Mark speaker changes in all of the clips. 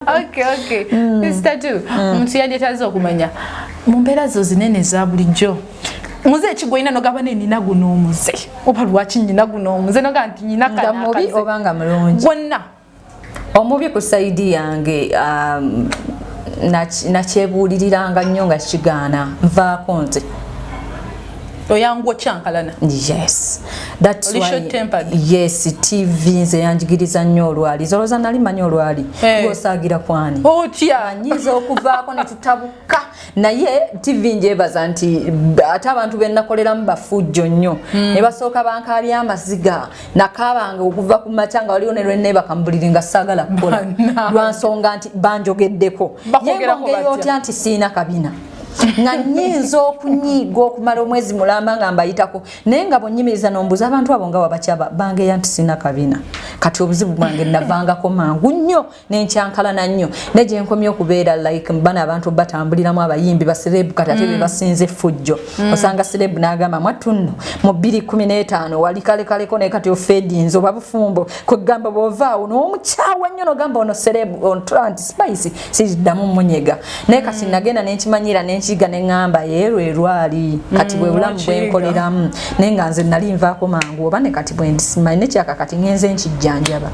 Speaker 1: okay, okay. Mm. Mr. Tu, mm. omuntu yandetaaza okumanya mu mbeera zo zinene eza bulijjo muze ekigwa ina nogaba ne nina guno omuze oba lwaki nyina guno omuze noga nti nyina kana mubi oba nga mulungi
Speaker 2: gwonna
Speaker 1: omubi
Speaker 2: ku saidi yange um, nakyebuuliriranga nnyo nga kigaana nvaako nze
Speaker 1: oyangu okyankalana yes
Speaker 2: that's Oli why tempered. yes tv nze yanjigiriza nnyo olwali zoloza nali manyi olwali hey. Eh. gosaagira kwani otya anyiza
Speaker 1: okuvaako
Speaker 2: ne tutabuka naye tv njebaza nti ate abantu benakoleramu bafujjo nnyo mm. ne basooka bankaabya amaziga nakaabanga okuva ku makya nga waliwo ne lweneebaka mu buliri nga saagala kukola lwansonga nti banjogeddeko ye ngeri otya nti siina kabina nga nyinza okunyiiga okumala omwezi mulamba nga mbayitako naye nga bwenyimiriza nombuuza abantu abo nga wabakyaba bangeya nti sina kabina kati obuzibu bwange navangako mangu nnyo nenkyankalana nnyo naye gyenkomye okubeera like bana abantu batambuliramu abayimbi baserebu kati ate mm. bebasinza effujjo mm. osanga serebu nagamba mwatunno mu bbiri kumi n'etaano wali kalekaleko naye kati ofedinze oba bufumbo kwegamba bwovaawo nowomukyawa nnyo nogamba ono serebu ontula nti spice siriddamu munyega naye kati mm. nagenda nenkimanyira nenkiga neŋamba yeero erwali kati mm, bwe bulamu bwenkoleramu naye nga nze nali nvaako mangu oba ne kati bwendisimanyi nekyaka kati ngenze nkijjanjaba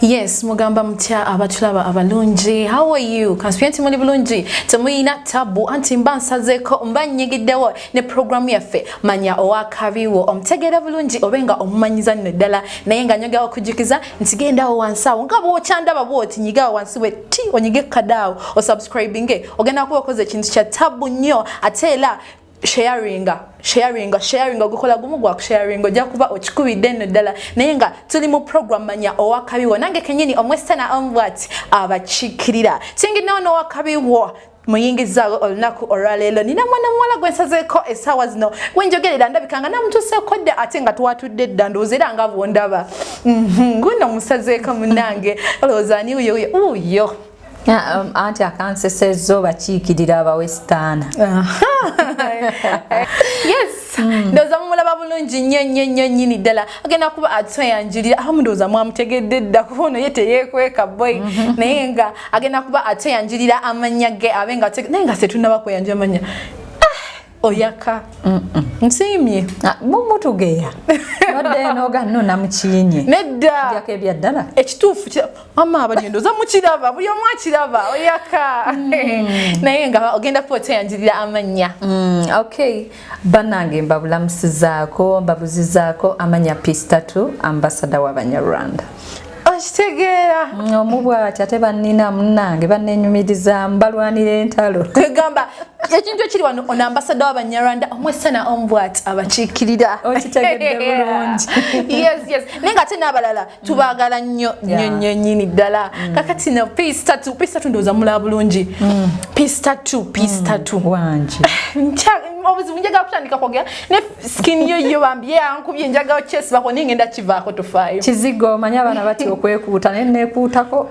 Speaker 1: yes mugamba mutya abatulaba abalungi how are you kansipi nti muli bulungi temuyina tabu anti mba nsazeko mba nyigiddewo ne programu yaffe manya owakabiwo omutegeera bulungi obe nga omumanyiza nno ddala naye nga nyogawo okujjukiza nti gendawo wansi awo nga bwokyandaba bwoti nyigawo wansi we ti onyige kadaawo osubscribinge ogenda kuba okoze ekintu kya tabu nnyo ate era sharinga sharinga sharinga gukola gumu gwa sharinga ojja kuba okikubidde nno ddala naye nga tuli mu program manya owakabiwo nange kenyini omwesitana omubwati abakiikirira kinginawo n'owakabiwo muyingizaawo olunaku olwaleero nina mwana muwala gwe nsazeeko essaawa zino gwe njogerera ndabika nga namutuuseeko dda ate nga twatudde dda ndowooza era nga bwondaba mhm, guno musazeeko munange olowooza ani uyo uyo uyo Um,
Speaker 2: anti akanseseza obakiikirira abawesitaana
Speaker 1: yes hmm. ndowooza mumulaba bulungi nnyo nnyo nnyo nnyini ddala agenda kuba atweyanjulira abamu ndowooza mwamutegedde dda kuba ono ye teyeekweka boy mhm. naye nga agenda kuba ate yanjirira amanya ge abe nga naye nga setunaba kweyanja amanya ah, oyaka nsiimye ah, mumutugeya
Speaker 2: nodenoganona mukinyi neddako
Speaker 1: ebyaddala
Speaker 2: ekituufu
Speaker 1: mama abagendo oza mukiraba buli omu akiraba oyaka mm. naye nga ogenda kuba oteyanjirira amanya mm, okay
Speaker 2: banange mbabulamusizaako mbabuzizaako amanya pistatu ambasada wabanyarwanda okitegeera
Speaker 1: mm, omu bwati
Speaker 2: ate bannina munange bannenyumiriza mbalwanira entalo kwegamba
Speaker 1: ekintu ekiri wano ono ambasada wabanyarwanda omwesana omu bwati abakiikirira okitegedde
Speaker 2: bulungi yes yes
Speaker 1: naye nga ate n'abalala tubagala nnyo nnyo nnyo nyini ddala mm. kakati no piece tatu piece tatu ndoza mula bulungi mm. piece tatu piece mm. tatu wanje
Speaker 2: obuzibu
Speaker 1: njaga kutandika kwogera ne skin yo yo bambi ye ankubye njaga chest bako ninge nda kivako tufayo kizigo manya bana
Speaker 2: bati okwekuuta ne nekuutako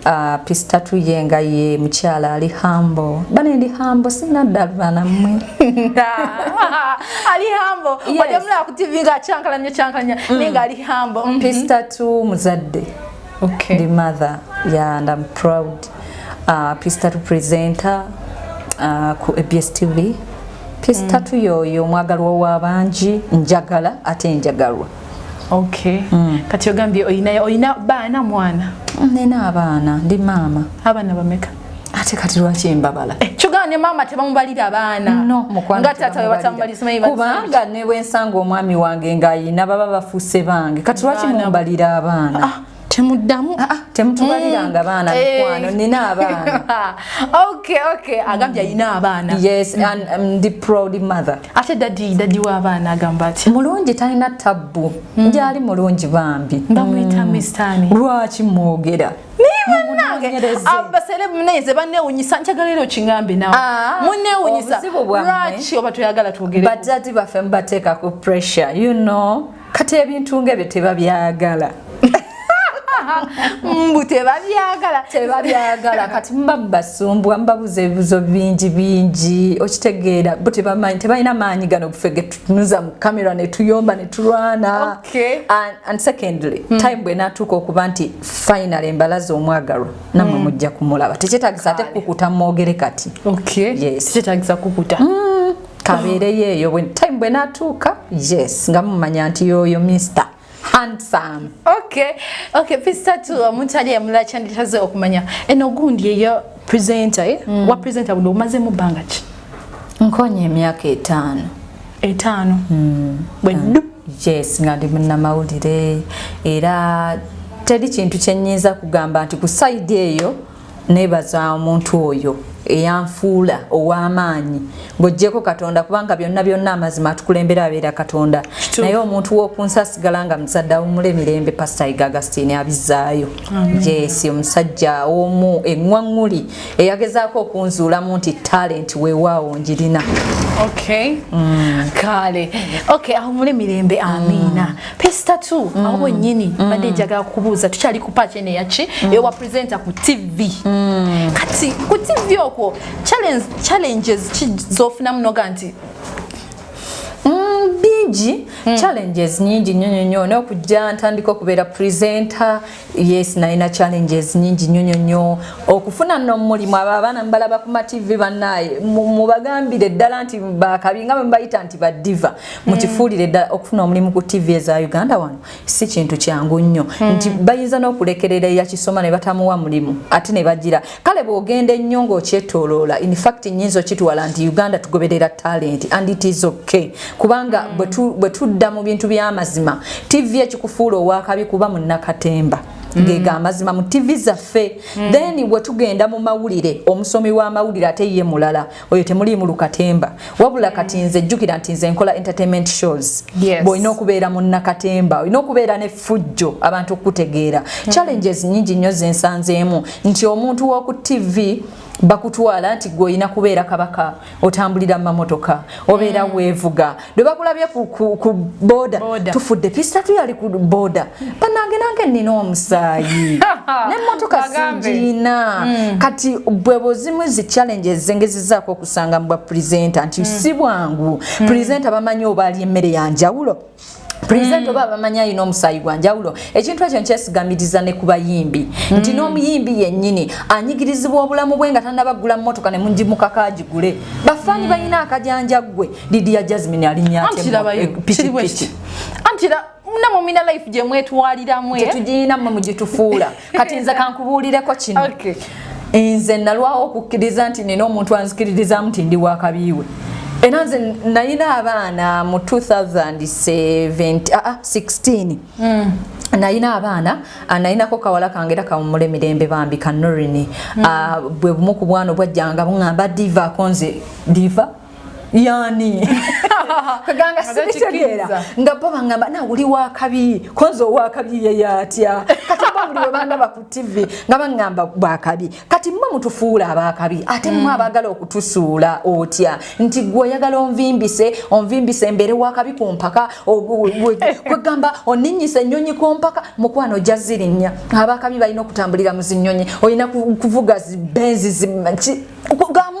Speaker 2: Uh, ah, pisita tuye nga ye mukyala ali hambo bane ndi hambo sina ddalu bana mmwe
Speaker 1: ali hambo ojamulaba ku tivi nga akyankalanya kyankalanya mm. naye nga ali hambo mm-hmm. pisita tu
Speaker 2: muzadde okay. ndi mother ya yeah, and am proud uh, ah, pisita tu presenter uh, ku abs tv pisita mm. tu yoyo omwagalwa w'abangi njagala ate njagalwa Okay.
Speaker 1: Mm. Kati ogambye oyina oyina baana mwana? Nina abaana,
Speaker 2: ndi maama. Abaana bameka?
Speaker 1: Ate kati lwaki
Speaker 2: embabala? Eh, kyogamba ne maama
Speaker 1: tebamubalira abaana? No, mukwano. Nga taata
Speaker 2: we batamubalira
Speaker 1: simanyi bati. Kubanga ne bwensanga
Speaker 2: omwami wange ng'ayina baba bafuuse bange. Kati lwaki mumbalira abaana? Ah. temuddamu
Speaker 1: ah, ah, temutubaliranga
Speaker 2: mm. baana eh. mikwano nina abaana okay okay
Speaker 1: agambye mm. alina abaana yes mm. and um,
Speaker 2: the proud mother ate dadi dadi
Speaker 1: w'abaana agamba ati mulungi talina tabbu
Speaker 2: mm. ndyali mulungi bambi bamuyita mm. mistani
Speaker 1: lwaki mwogera
Speaker 2: abaserebu
Speaker 1: naye nze banewunyisa njagala era okingambe nawe ah, munewunyisa lwaki oba toyagala twogere bajjati baffe mubateeka
Speaker 2: ku pressure you know kati ebintu ng'ebyo tebabyagala
Speaker 1: mbu tebabyagala tebabyagala kati muba
Speaker 2: mubasumbwa mubabuza ebibuzo bingi bingi okitegeera bo tebamanyi tebalina maanyi gano bufe getutunuza mu kamera netuyomba netulwana and secondly hmm. time bwenatuuka okuba nti final embalaza omwagalwa namwe hmm. mujja kumulaba tekyetagisa ate kukuta mwogere kati tekyetagisa
Speaker 1: kukuta hmm. kabeereyo
Speaker 2: eyo when time bwe natuuka yes nga mumanya nti yoyo mister handsome okay
Speaker 1: okay pista tu omuntu ali emula kyanditaze okumanya eno gundi eyo presenter eh? mm. wa presenter budo umaze mu banga ki nkonye
Speaker 2: emyaka etaano etaano mm. bwe
Speaker 1: mm. du yes nga
Speaker 2: ndi munnamawulire era teri kintu kyennyinza kugamba nti ku sayidi eyo nebaza omuntu oyo eyanfuula ow'amaanyi ng'ogyeko katonda kubanga byonna byonna amazima atukulembera abeera katonda naye omuntu w'okunsi asigala nga muzadde awumula emirembe pasita iga agastini abizzaayo yes omusajja omu eŋwaŋŋuli eyagezaako okunzuulamu nti talenti weewaawo ngirina mm.
Speaker 1: kale awumule mirembe amiina mm. Pesta tu mm. awo nyini mm. bade jaga kubuza tuchali kupa chene ya chi mm. ewa presenter ku TV mm. kati ku TV oko challenge challenges chi zofuna mnoga nti mm,
Speaker 2: bingi mm. challenges nyingi nyonyo nyo no kujja ntandika okubeera presenter yes nalina challenges nyingi nyonyo nyo okufuna no mulimu aba abaana mbalaba ku ma TV banaye mubagambire ddala nti bakabinga mbayita nti badiva mukifuulire ddala okufuna omulimu ku tv eza uganda wano si kintu kyangu nnyo hmm. nti bayinza n'okulekerera eyakisoma ne batamuwa mulimu ate ne bagira kale bw'ogenda ennyo ng'okyetoloola infact nyinza okitwala nti uganda tugoberera talenti and it is okay kubanga hmm. bwe tudda mu bintu by'amazima tv ekikufuula owakabi kuba munnakatemba Mm. ngega amazima mu TV zaffe mm. then wetugenda mu mawulire omusomi wa mawulire ate ye mulala oyo temuliimu lukatemba wabula kati nze jjukira nti nze nkola entertainment shows yes. bwolina okubeera munnakatemba olina okubeera ne fujjo abantu okukutegeera mm -hmm. challenges nyingi nnyo zensanzeemu nti omuntu w'oku tv bakutwala nti gwe olina kubeera kabaka otambulira mu mamotoka obeera mm. weevuga lwe bakulabye ku, ku, ku boda tufudde pista tuyali ku boda banange nange nina omusaayi nemotoka sigiina mm. kati bwe buzimu zi challenge ezengezizaako okusanga mubwa presenta nti mm. si bwangu mm. presenta bamanyi oba ali emmere ya njawulo present mm. oba abamanyi alina omusaayi gwa njawulo ekintu ekyo nkyesigamiriza ne ku bayimbi mm. nti n'omuyimbi yennyini anyigirizibwa obulamu bwe nga tanabaggula mmotoka ne mugimukako agigule bafaani mm. balina akajanja ggwe Lydia Jasmine alinya ate kiraba eh,
Speaker 1: kiriwekiti anti la namwe mina life gye mwetwaliramu eh? tetugiyina mwe
Speaker 2: mugitufuula kati nze kankubuulireko kino okay. nze nalwawo okukkiriza nti nina omuntu anzikiririzamu nti ndi wakabiiwe era nze nalina abaana mu 2016 ah, ah, mm. nalina abaana ah, nalinako kawala kange era kawumula emirembe bambi kanorini mm. bwe bumu ku bwana obwajjanga buŋamba divaako nze diva yani kaganga sibitegeera nga bo bangamba na uli wakabi konzo wakabi yeye atya kati bo buli webandaba ku tv nga bangamba bwakabi kati mwe mutufuula abakabi ate mwe mm. abagala okutusuula otya nti gwe oyagala onvimbise onvimbise mbere wakabi ku mpaka kwegamba oninyisa ennyonyi ku mpaka mukwano ojja zirinnya abakabi balina okutambulira mu zinyonyi olina kuvuga benzi kugamba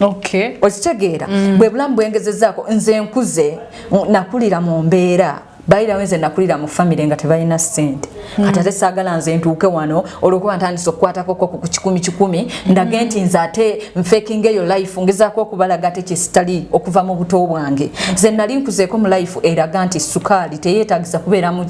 Speaker 2: okay. okitegeera mm. bwe bulamu bwengezezaako nze nkuze nakulira mu mbeera bayirawo nze nakulira mu famire nga tebalina sente mm. kati ate saagala nze ntuuke wano olwokuba ntandisa okukwatakoko ku kikumi kikumi mm. ndage nti nze ate nfekinga eyo life ngezaako okubalaga ate kyesitali okuva mu buto bwange nze nali nkuzeeko mu life eraga nti sukaali teyeetagisa kubeeramu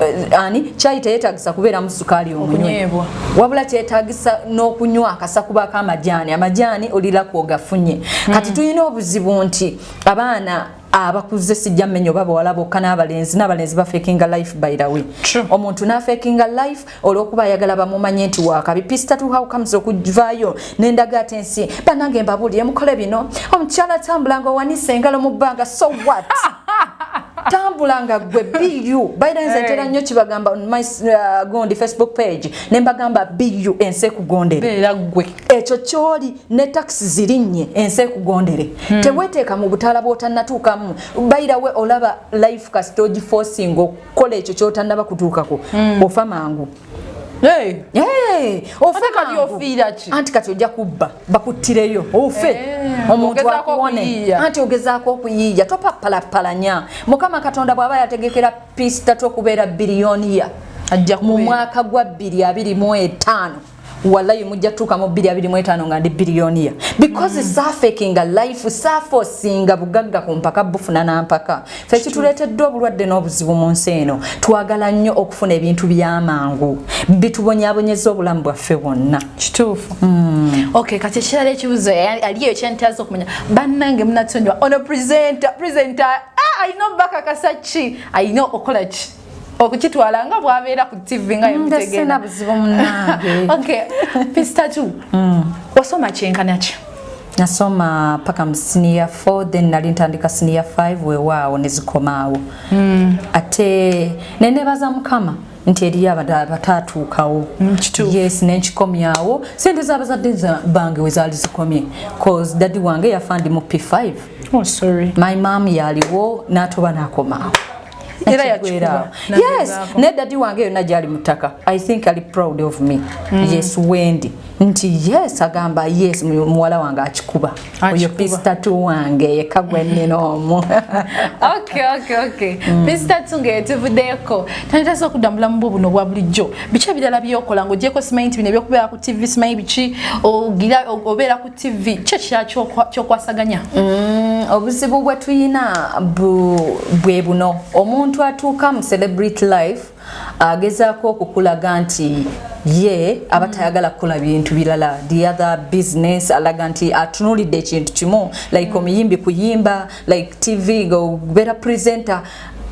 Speaker 2: Eh, ani kyayi teyetagisa kubeeramu sukaali omunywebwa wabula kyetagisa n'okunywa akasa kuba akamajaani amajaani olira kwogafunye hmm. kati tulina obuzibu nti abaana abakuze sijja mmenya oba bawala bokka n'abalenzi n'abalenzi bafekinga life by the way omuntu n'afekinga life olwokuba ayagala bamumanye nti wakabi pista to how comes okuvaayo nendaga ate nsi banange mbabuulire mukole bino omukyala atambula nga owanise engalo mu bbanga so what tambula nga gwe bu baidenze ntera eh. nnyo kibagamba on my uh, gondi facebook page ne mbagamba bu ensi ekugondere gwe ekyo kyoli ne taxi zirinnye ensi ekugondere hmm. teweteeka mu butaala bwotanatuukamu bairawe olaba life kasitogi forcing kola ekyo kyotanaba kutuukako mm. ofa mangu Hey. Hey. Ofe kati ofiira ki? Anti kati ojja kubba bakuttireyo ofe hey. omuntu akuwone anti ogezaako okuyiiya topapalapalanya mukama katonda bw'aba yategekera pisita tokubeera biriyoniya mu mwaka gwa bbiri abiri mu etaano wallayi mujja tuuka mu 225 nga ndi biliyoniya because mm. safekinga life safosinga bugagga ku mpaka bufuna na mpaka fe kituleeteddwa obulwadde n'obuzibu mu nsi eno twagala nnyo okufuna ebintu by'amangu bitubonyabonyeza obulamu bwaffe bwonna kituufu mm. okay kati ekirala ekibuzo aliyo ekyentaza okumanya bannange munatonyiwa ono presenta presenta ah, alina obubakakasa ki alina okukola ki okukitwala nga bwabeera ku tv nga yemutegeera buzibu munange okay pista tu mm. wasoma kyenkana ki nasoma paka mu senior 4 then nali ntandika senior 5 wewaawo nezikomaawo mm. ate nenebaza mukama nti eriyo abataatuukawo mm, yes nenkikomyawo sente zabazadde bange wezaali zikomye cause dadi wange yafa ndi mu p5 oh, sorry. my mam yaliwo natuba nakomaawo era yakikuba yes naye dadi wange yonna gyali mu ttaka i think ali proud of me mm. yes wendi nti yes agamba yes muwala wange akikuba oyo pistatu wange yeka gwenina omu pistatu mm. ngeyetuvuddeko tanitasa okudda mubulamu bwo buno obwa bulijjo biki ebirala byokola ngaogyeko simanyi nti bino ebyokubeera ku tv simanyi biki obeera ku TV kyo kyokwasaganya mm, obuzibu bwe tuyina bwe buno omuntu atuuka mu celebrity life agezaako okukulaga nti ye aba tayagala kukola bintu birala the other business alaga nti atunulidde ekintu kimu like omuyimbi kuyimba like tv nga obeera presenter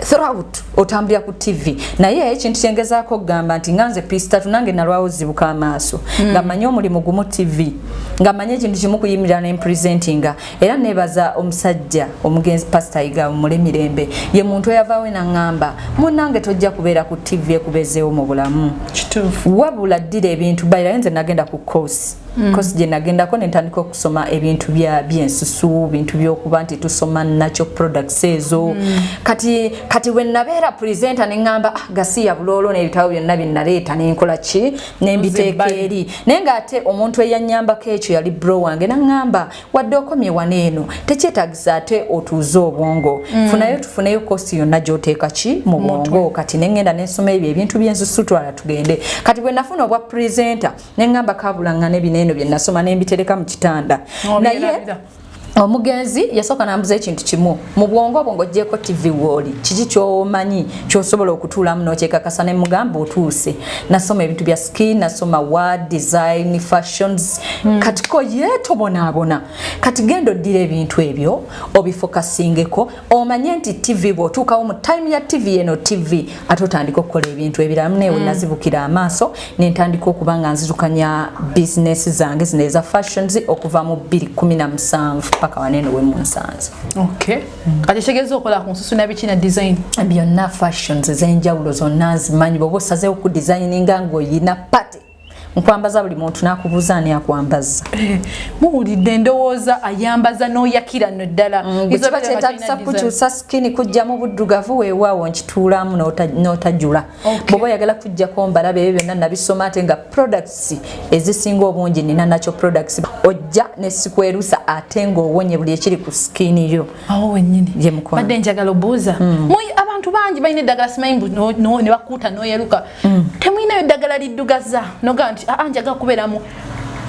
Speaker 2: throughout otambulira ku tv naye ekintu kyengezaako okugamba nti nga nze pistatu nange nalwawo zibuka amaaso mm. nga manye omulimu gumu tv nga manye ekintu kimu kuyimirira nempresentinga era nebaza omusajja omugenzi pasita yiga mule mirembe ye muntu eyavawe naŋŋamba munange tojja kubeera ku tv ekubezeewo mu bulamu wabula ddira ebintu bayirayo nze nagenda ku course Mm. kosi gye nagendako ne ntandika okusoma ebintu byensusu bintu byokuba nti tusoma nakyo products ezo mm. kati kati we nabeera presenta ne ŋŋamba ah, gasiya buloolo n'ebitabo byonna bye naleeta ne nkola ki ne mbiteeka eri naye ng'ate omuntu eyannyambako ekyo yali bro wange naŋŋamba wadde okomye wana eno tekyetagisa ate otuuze obwongo mm. funayo tufuneyo kosi yonna gy'oteeka ki mu bwongo kati ne ŋŋenda ne nsoma ebyo ebintu byensusu twala tugende kati bwe nafuna obwa presenta nengamba kabulangana ebineeno bye nasoma nembitereka mu kitanda naye omugenzi yasooka nambuza ekintu kimu mu bwongo obwo ngaogyeko tv wooli kiki kyomanyi kyosobola okutuulamu nokyekakasa ne mugamba otuuse nasoma ebintu bya skin nasoma wa design fashions mm. katiko yetobonaabona kati genda oddira ebintu ebyo obifokasingeko omanye nti tv bwotuukawo mu time ya tv eno tv ate otandika okukola ebintu ebirala muneewe mm. nazibukira amaaso nentandika okuba nga nzirukanya bizinesi zange zino eza fashions okuva mu 217 paka waneeno wemunsanze okay.
Speaker 1: mm. kati kitegeeza okola ku nsusu nabiki na design byonna fashions
Speaker 2: ezenjawulo zonna nzimanyi bwoba osazeewo ku designinga ngaoyina pate nkwambaza buli muntu nakubuuza ani akwambaza eh, muwulidde
Speaker 1: ndowooza ayambaza n'oyakira no ddala mm, kiba kyetagisa
Speaker 2: kukyusa sikini kujja mu buddugavu weewaawo nkituulamu n'otajula bwoba oyagala kujjako mbalabe ebyo byonna nabisoma ate nga products ezisinga obungi nina nakyo products ojja nesikwerusa ate ng'owonye buli ekiri ku
Speaker 1: sikini
Speaker 2: yo awo wenyini
Speaker 1: yemukobadde
Speaker 2: njagala obuuza mm. abantu
Speaker 1: bangi balina eddagala simanyi ne bakuuta n'oyeruka mm. temulinayo ddagala liddugaza nogaa nti aa ah, ah, njaga kubeeramu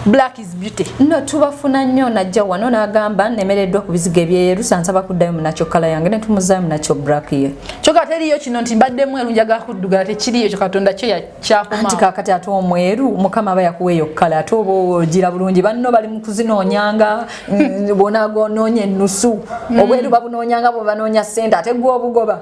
Speaker 1: black is beauty no tubafuna
Speaker 2: nnyo najja wano n'agamba nemereddwa ku bizigo ebyeyerusa nsaba kuddayo munakyo kala yange ne tumuzaayo munakyo black ye kyoka teriyo kino
Speaker 1: nti mbadde mweru njaga kuddugala tekiriyo kyo katonda kyo yakyakumanti kakati ate
Speaker 2: omweru mukama aba yakuwa eyo kala ate oba ogira bulungi banno bali mu kuzinoonyanga mm, bonagonoonya ennusu mm. obweru babunoonyanga bwe banoonya ssente ate gwe obugoba